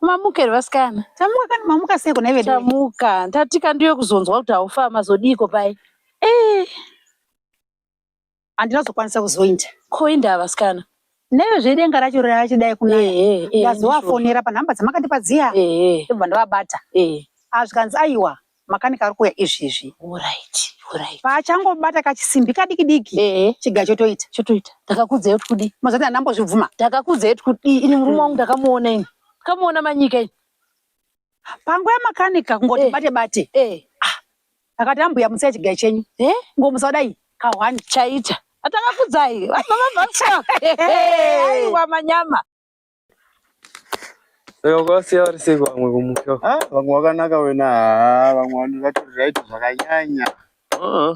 Mamuka here vasikana? Tamuka kani mamuka sei kuna vedu? Tamuka. Tatika ndiwe kuzonzwa kuti haufa mazodiko pai? Eh. Andina zokwanisa kuzoinda. Koinda vasikana. Neyo zvedenga racho racho dai kuna. Eh eh. eh Ndazowafonera pa number dzamakatipa dziya. Eh eh. Ndobva ndavabata. Eh. Azvikanzi ah, aiwa. Makanika ari kuuya izvizvi. Horaiti, horaiti. Paachangobata kachisimbi kadiki diki, chiga chotoita. Chotoita. Ndakakuudza kuti kudii? Mazati handambozvibvuma. Ndakakuudza kuti kudii? Ini murume wangu ndakamuona ini. Ndakamuona manyika ini. Panguva yamakanika kungoti eh. bate bate. Eh. Ah. Akati ambuya musai chiga chenyu. Eh? Ngomusa dai kahwani chaita. Atakakudzai. Baba baba. Aiwa manyama. Vakasiya vari sei vamwe kumusha? Ah, vamwe vakanaka wena, haa vamwe vanhu vati right zvakanyanya. Ah.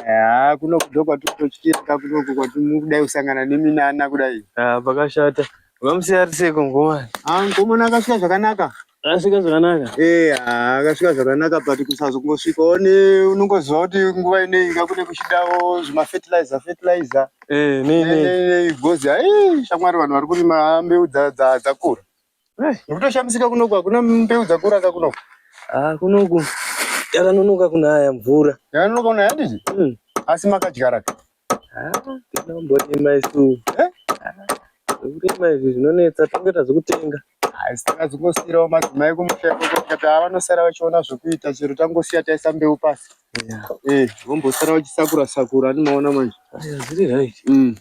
Haa eh, kuno kudo kwatitotyirika kunoku kwatimukudai kusangana neminana kudai. Ah, pakashata. Vamusiya ri sei kungomana? Ah, ngomana akasiya zvakanaka. Asvika zvakanaka. Eh, ah, akasvika zvakanaka but kusazongosvika one unongoziva kuti nguva inei inga kune kuchidawo zvemafertilizer fertilizer Eh, nei nei. nei gozi ai shamwari vanhu vari kurima mbeu dza- dza- dzakura Eh, nekutoshamisika kunoku hakuna mbeu dzakura ka kunoku ah kunoku yakanonoka kunaya mvura. yakanonoka kunaya yadii Mm. asi makadyara ka Tinomborima isu. Zvekurima izvi zvinonetsa toita zvekutenga. Asi takazongosiirawo madzimai kumusha ikoko tikati ava vanosara vachiona zvekuita chero tangosiya taisa mbeu pasi. Eh, vombosara vachisakura sakura anomaona manje. Zviri right. Mm.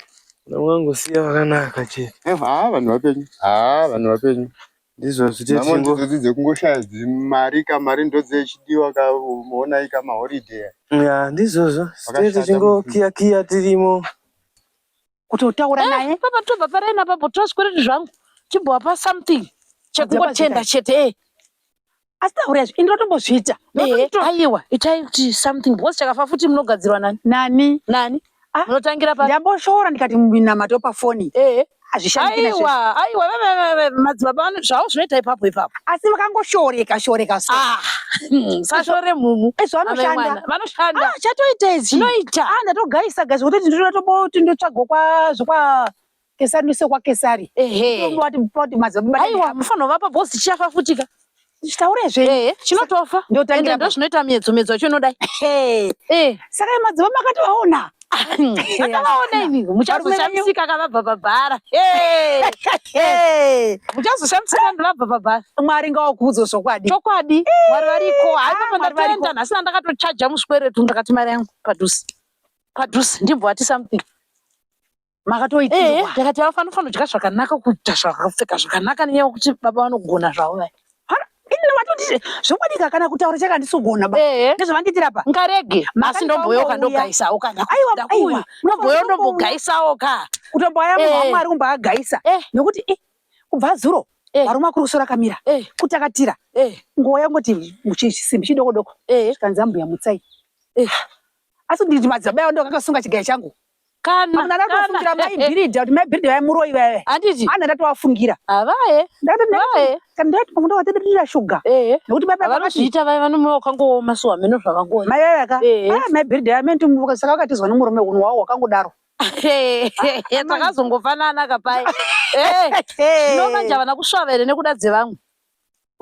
Unongosiya vakanaka chete. Eh, haa vanhu vapenyu. Haa vanhu vapenyu. Ndizvo zvite Nhamo chingo. ndidzodzi dzekungoshaya dzimari ka mari ndodzechidiwa ka muonai ka maholiday aya. Ya ndizvozvo zvite Pakashata chingo mufi. kiya kiya tirimo. Kutotaura Eh, naye. papa tobva paraini apapo tozvikoreti zvangu timbovapa something Madzibaba chekungotenda chete eh. asi tauraya zvi ndinotombozviita aiwa itai kuti something because chakafa futi munogadzirwa nani nani nani ah, munotangira pa ndamboshora ndikati minamato pafoni ehe hazvishandiaiwa aiwa madzibaba ano zvavo zvinoita ipapo ipapo asi vakangoshoreka shoreka so ah, hmm, sashore mhumu ezvo eh, vanoshanda vanoshanda ah, chatoita izvi zvinoita ah, ndatogaisa gazi kutoti ndinotomboti ndotsvagwa kwazvo kwa Kesari nise kwa Kesari. Ehe. Ndombo wati poti madzababa. Haiwa mufano vapa boss chichafa futika. Chitaure zve. Ehe. Chinotofa. Ndio tangira. Ndio zvinoita miedzo miedzo yacho inodai. Ehe. Eh. Saka madzababa akati vaona. Akavaona ini. Muchazoshamsika akavabva pabhara. Ehe. Ehe. Muchazoshamsika ndivabva pabhara. Mwari ngawakudzo zvokwadi. Chokwadi. Mwari variko. Hayi papa ndatoenda nhasi ndakatochaja muswere tu ndakati mari yangu padhusi. Padhusi ndimbo ati something. makatoitirwa ndakati eh, vafanofanira kudya zvakanaka kuita zvakapfeka zvakanaka nenyaya yekuti baba vanogona zvavo vaya vatoti zvokwadika kana kutaura chaka ndisogona ba ndezvavandiitira pa ngarege asi ndomboyoka ndogaisawo ka aiwa ndomboyo ndombogaisawo ka kutomboaya munhu wamwari kumbaagaisa nokuti kubva zuro varuma kuruso rakamira kutakatira nguva yangoti chisimbi chidoko doko zvikanzi ambuya mutsai asi nditi madzibaba yavo ndokakasunga chigaya changu kana kana ndatofungira mai bhiridha kuti mai bhiridha vaimuroyi vaive handiti ana ndatovafungira avaye ndatovaye kana ndati pamwe ndavatedirira shuga ehe nekuti baba vanozviita vaive vanomuva wakangooma so hameno zvavangoona mai vaive ka ah, mai bhiridha vamene tumuka saka vakatizwa nemurume unhu wavo wakangodaro takazongofanana kapai zvino manje havana kusvava here nekuda dzevamwe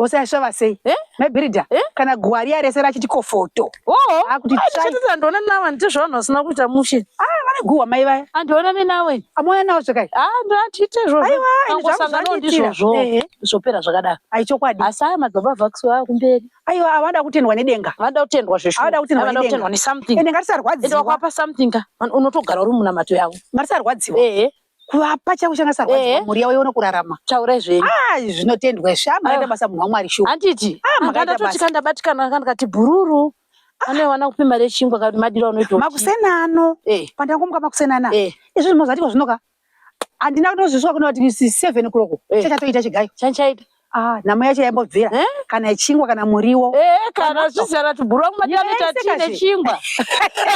ose ashava sei eh? mebirida eh? kana gwariya rese rachiti kofoto oh, akutishatisa ndoona nava nditi zvavanhu vasina kuita mushe ah, vane guhwa mai vaya andiona ah, minawe amoya nawo zvakai ah, ndoatiite izvozvoangosanganawo ndizvozvo eh, zvopera zvakadaro ai chokwadi asi aya madzibaba vakusi vava kumberi aiwa avada kutendwa nedenga vada kutendwa zveshuavada kutendwa nesomething ende ngatisarwadziwa ende wakwapa something ka unotogara uri munamato yavo ngatisarwadziwa kuvapa chavo changa sarwadziwa eh. mhuri yavo yoona kurarama taurai zvenyu ah, zvinotendwa izvi ah, makaita basa munhu wamwari shuwa handiti ah, ndatotika ndabatikana anga ndikati bhururu ane wana kupi mari yechingwa kati madiro anoita makuseni ano eh. pandangomuka makuseni ana izvi zvimozatiko zvinoka handina kutozvisuka kuno kuti seven kuroko chachatoita chigayo chanchaita Ah, nhamo yacho yaimbobvira Eh? kana chingwa kana muriwo Eh, kana zvizara tubhura kumatani Yes, tati kazi. nechingwa.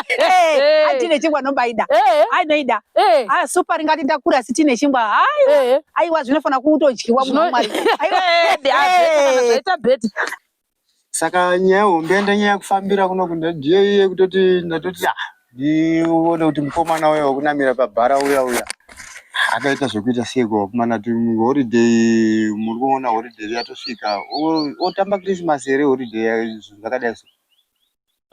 Eh, Eh. ai tine chingwa nombaida Eh, ai noida eh, ah super ringati ndakura asi tine chingwa hai eh. aiwa zvinofanira kutodyiwa Zvino- munhu wamwari aiwa Eh, adi, adi, Eh. kana zvaita bheti. saka nyaya hombe yandanyaya kufambira kuno kunda ndiyo iye kutoti ndatoti ah, ndione kuti mukomana uya wekunamira pabhara uya uya akaita zvekuita seiko kumana kuti holiday muri kuona holiday yatosvika otamba christmas here holiday zvakadai so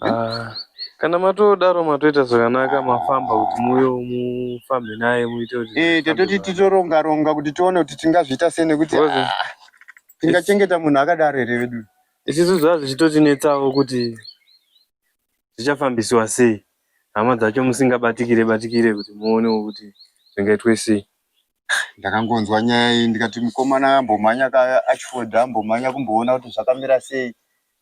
Ah, kana matodaro matoita zvakanaka mafamba kuti muuye mufambe naye muite kuti Eh, tatoti titoronga ronga kuti tione kuti tingazviita sei nekuti Ngozi. ah, tingachengeta munhu akadaro here vedu. isu zvaa zvichitotinetsawo kuti zvichafambisiwa sei hama dzacho musingabatikire batikire kuti muonewo kuti zvingaitwe sei Ndakangonzwa nyaya iyi ndikati mukomana ambomhanya ka achifodha ambomhanya kumboona kuti zvakamira sei.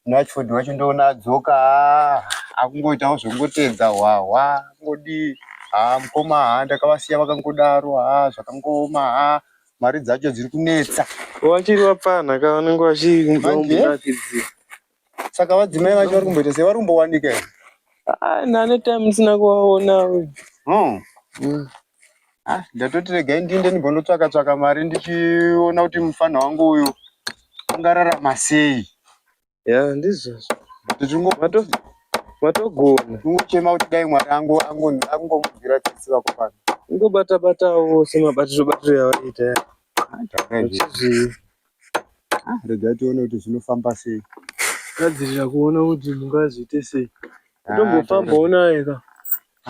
Rashford wacho ndoona adzoka ah, akungoitawo zvekungotedza hwahwa ngodii haa ah, mukoma haa ah, ndakavasiya vakangodaro haa zvakangooma haa mari dzacho dziri kunetsa wachiri wapfanha ka vanenge vachiakidzia saka vadzimai vacho vari kumboita sei vari kumbowanika here nane time ndisina kuvaona hmm. hmm. Ah, ndatoti regai ndiende ndimbonotsvaka tsvaka mari ndichiona kuti mufana wangu uyu ungararama sei. Ya, ndizvozvo. Tichingo Mato matogona. tingochema kuti dai mwari angu angu- angomubvira tsitsi vako pano. Ungobata batawo semabatiro batiro yavaita. Taura izvi. Uchizvi Ah, regai tione kuti zvinofamba sei gadzirira kuona kuti mungazoite sei tombofamba unaye ka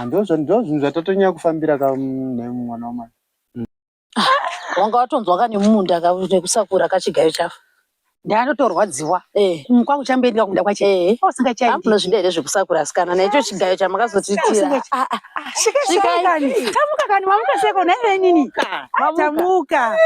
ndozvinhu zvatatonyanya kufambira ka nhai mwana wamai wanga watonzwa ka nemumunda ka nekusakura kachigayo chavo ndanotorwadziwa eh. mm, kwangu chamboendwa kumda kwacho eh. usingachaiti amnozvida here zvekusakura asikana naicho chigayo chamakazotiitira Ah, Svikai kani. Tamuka kani mamuka seko nhai venini. Ah, Tamuka.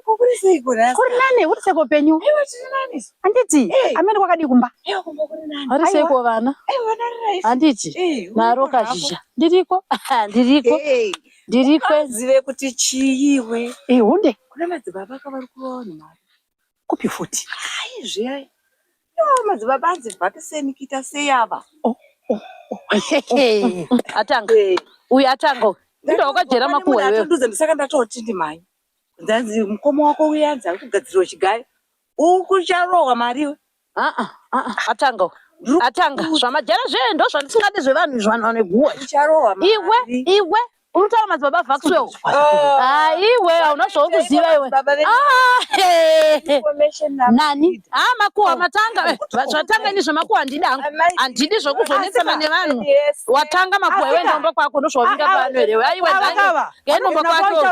Kuri seiko rasa? Kuri nani uri seko penyu. Ewa tiri nani. Handiti amene kwakadii kumba. Ewa kumba kuri nani. Ari seko vana. Ewa nari rais. Handiti. Naro kazhizha. Ndiriko. Ndiriko. Ndiriko. Zive kuti chii iwe. Eh hunde. Kuna madzibaba kavari kuona mari. Kupi futi? Hayi zviya. Yoo madzibaba anzi bvapi seni kuita sei ava? Oh, oh, oh. Atanga. Uyu atanga. Ndo wakajera makuwa iwewe. Ndatodudza ndisaka ndatoti ndimai. Ndanzi mukoma wako uya anzi ari kugadzirwa chigayo. Ukucharohwa mari iwe. Ah ah ah atanga. Uyu atanga zvamajara zvee ndozvandisingadi zvevanhu izvi vanhu vaneguwa iwe iwe Unutaura madzibaba vakusiwewo. Ah, iwe hauna zvaukuziva iwe. Ah, nani? Ah, makuwa oh. matanga. Eh, zvatanga ini zvemakuwa handidi hangu. Handidi zvokuvhonetsana nevanhu. Watanga makuwa iwe ndomba kwako ndozvawavinga pano here. Aiwe nani? Ngendomba kwako.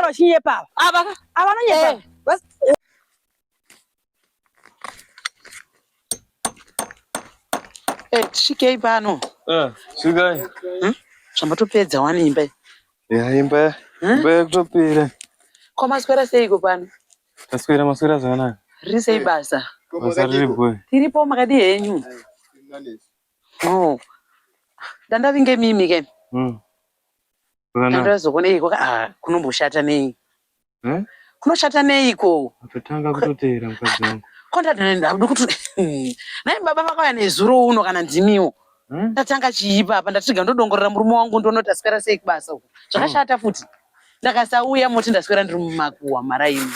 Ava. Ava nonyepa. Eh. Hey, eh, svikei pano. Ah, svikai. Hmm? Zvamatopedza wani imba. Ya imba. Hmm? Imba yakutopera. Ko maswera seiko pano? Maswera maswera zvakanaka. Riri sei basa? Basa riri boy. Tiripo makadi henyu. Oh. Dandavinge mimi ke. Hmm. Zvakanaka. Dandazokonei ko ah kunomboshata nei? Eh? Kunoshata neiko? Kutotanga kutoteera mukadzi wangu. Kondadana ndokuti nai baba vakauya nezuro uno kana ndimiwo. Eh? Ndatanga chiipa apa ndatiga ndodongorera murume wangu ndoona kuti aswera sei kubasa uko. Zvakashata futi. Ndakasauya moti ndaswera ndiri mumakuwa mara imi.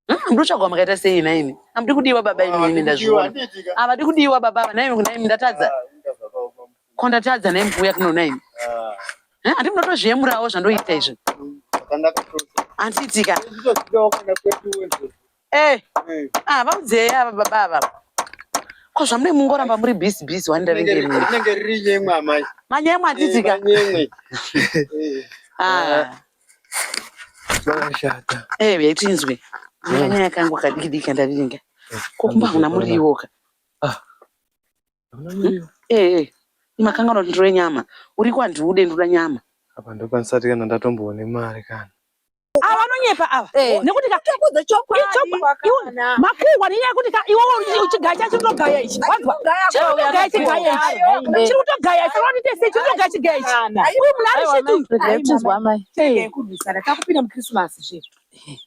Hmm, ndotsvagwa makaita sei naimi? Hamudi kudiwa baba imi ndazviona. Havadi kudiwa baba ava naimi kunaimi ndatadza. Ah, Ko ndatadza nhaimi kuuya kunoona imi. Eh, Andi munotozviyemurawo zvandoita izvi. Handiitika. Eh. Ah, vaudzei ava baba ava. Ko zvamune mungoramba muri busy busy wani ndaringe imi. Rinenge riri nyemwe amai. Manyemwe handiitika. Nyemwe. Ah. Zvakashata. Eh, yaitinzwe. Nyanya yakangu kadiki diki kandaringa. Ko kumba huna muriwoka. Ah. ee imakanganwa kuti ndire nyama uri kwandiude ndoda nyama apa ndokwanisati kana ndatomboone mari kana ava vanonyepa ava eh. nekuti makungwa nenyaya yekuti iwe uchigaya chacho chitogaya ichi wanzwa chiri kutogaya chigaya ichi chiri kutogaya ichi vanoti tese chiri kutogaya chigaya ichi uyu munhu ari shituakupinda mukrisimasi zve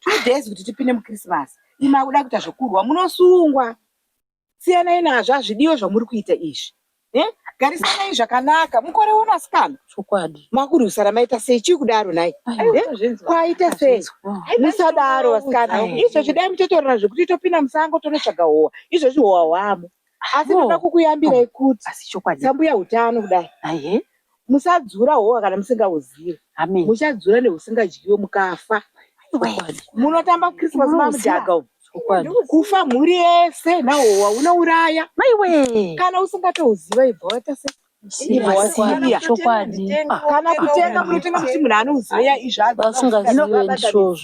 two days kuti tipinde mukrisimasi imakuda kuita zvekurwa munosungwa siyanai nazvo hazvidiwe zvamuri kuita izvi eh? garisanai zvakanaka mukore uno asikana chokwadi makurwisana maita sei chii kudaro nai eh? kwaita sei musadaro asikana izvozvi dai mutotorana zvekuti topinda musango tonotsvaga howa izvozvi howa hwamo asi ndoda kukuyambirai kuti sambuya utano kudai musadzura hova kana musingauzive muchadzura neusingadyiwe mukafa munotamba christmas mamudhaga umu kufa mhuri yese nahowa unouraya kana usingatouziva ibva waita se kana kutenga munotenga kuti munhu anouziva izvazvo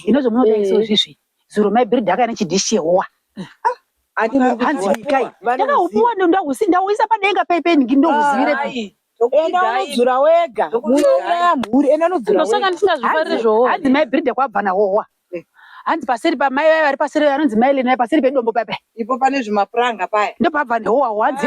ino zvamunoda izvozvizvi zuro mai biri daka nechidishi yehowa hanzi mikai ndakaupiwa ndauisa padenga paipenhingi ndouzivirepi enda unodzura wega munouraya mhuri enda unodzurandosaka ndisingazvifarire zvohowa hanzi mai birida kwabva nahowa hanzi paseri pamai vaye vari paseri vanonzi mai lenai paseri pedombo paipai ipo pane zvimapuranga paya ndopabva nehowa hanzi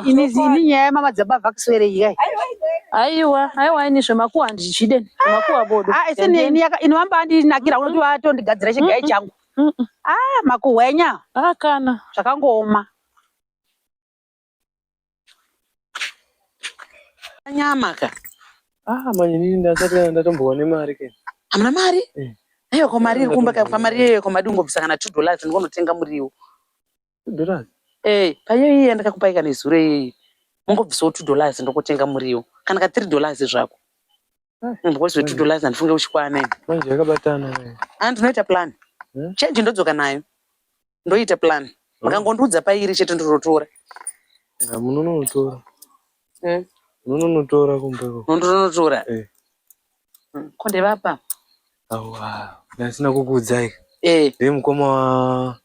Ini ini nyaya yamama dzaba vakuswere yai. Aiwa, aiwa ini zvemakuwa handichide. Zvemakuwa bodo. Ah, ese ne ini yaka inovamba andinakira unoti vatondigadzira chigai changu. Ah, makuhwenya. Ah, kana. Zvakangooma. Nyama ka. Ah, manje ini ndasati ndatombowa nemari ke. Hamuna mari? Eh. Aiwa ko mari iri kumba ka mari yeyo ko madungobvisa kana 2 dollars ndikonotenga muriwo. Dollars. Eh, payo iye yandakakupai kana izuro iye. Mungobvisawo 2 dollars ndokotenga muriwo. Kana ka 3 dollars zvako. Munhu wose 2 dollars andifunge uchikwana ini. Manje yakabatana naye. Ah, ndinoita plan. Hmm? Change ndodzoka nayo. Ndoita plan. Hmm. Makangondiudza pairi chete ndinotora. Ah, munonotora. Hmm? Munonotora kumbeko. Munonotora. Eh. Hmm. Konde vapa. Awa. Ndasina kukuudzai. Eh. Ndimukoma wa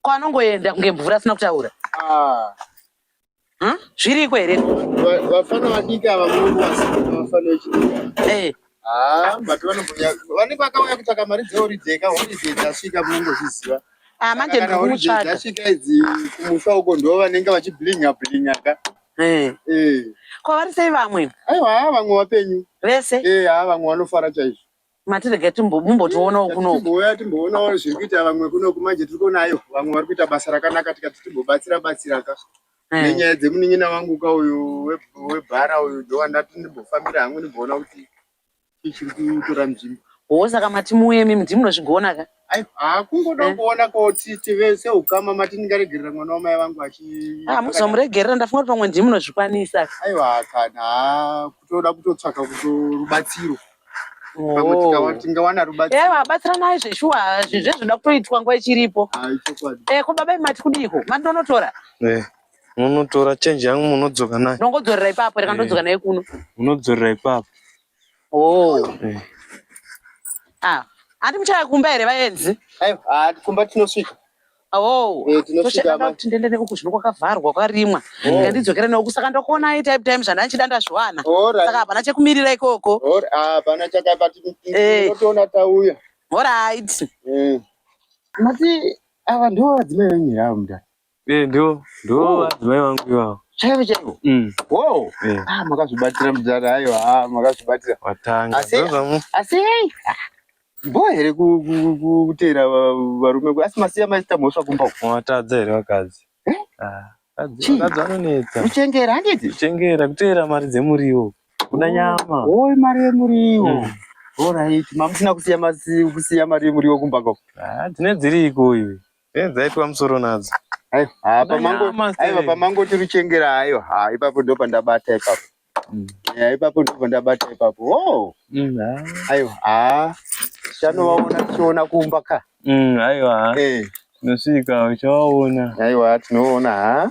ko anongoenda kunge mvura asina kutaura ah. hm? zviriko here vafana vadiki ava vafana vechidiki eh. ah, vane vakauya kutsvaka mari dzeorideka holiday dzasvika munongozviziva ah, manje ndikutsvaga dzasvika idzi kumusha uko ndo vanenge vachiblinga blinga ka eh. ko vari sei vamwe aiwa vamwe vapenyu vese haa vamwe vanofara chaizvo matirege mumbotionawo kunokuuya timboonawo zviri kuita vamwe kunoku manje tiri kuonayo vamwe vari kuita basa rakanaka tikati timbobatsira batsiraka eh. nenyaya dzemunin'ina wangu ka uyu webhara uyu ndowandati ndimbofambira hangu ndimboona kuti ichiri kutora nzvimbo hoo saka mati muuyemi ndimunozvigona ka Haa kungoda eh? kuona kuti tive seukama mati ndingaregerera mwana wamai vangu achi ah, muzomuregerera ndafunga kuti pamwe ndii munozvikwanisa aiwa kana kutoda kutotsvaka kutorubatsiro oh. tingawana rubatsiro eh, vabatsiranai zveshuwa zvezvoda kutoitwa nguva ichiripo eh, ko baba imati kudiiko mati ndonotora munotora chenji yangu munodzoka nayo ndongodzorera ipapo reka ndodzoka nayo kuno munodzorera ipapo Oh. Eh. Ah, ati muchaya kumba here vaenzi? Aiwa, ah, kumba tinosvika. Oh, eh, tinosvika ma. Tindende nekuku zvino kwakavharwa kwarimwa. Oh. Ngandidzokera nekuku saka ndokuona ai type time zvana chida ndazviwana. Saka hapana chekumirira ikoko. Ora, ah, hapana chakabati. Eh. Totoona tauya. All right. Mm. Mati ava ndiwo vadzimai venyira mudhara. Eh, ndo ndo oh. madzimai vangu ivavo chaivo chaivo mm. wo eh. ah, makazvibatira mudhara hayo ah, makazvibatira watanga asi hei bho here kuteera varume asi masiya maita mhosva kumba watadza here vakadzi eh? ah, vakadzi vanonetsa kuchengera handiti kuchengera kuteera mari dzemuriwo kuda oh, nyama oi mari yemuriwo mm. orit mamusina kusiya mari yemuriwo kumba ko dzine dziri ikoyo Eh, dzaitwa musoro nadzo. Aiwa, ah, pamango, Nyama sei? aiwa pamango tiri chengera hayo. Ha, ipapo ndo pandabata ipapo. Mm. Ya, ipapo ndo pandabata ipapo. Oh, Mm, ah. aiwa. Ah. Shano waona tichiona kumba ka. Mm, aiwa. Eh, Tinosvika uchawaona. aiwa tinoona ha.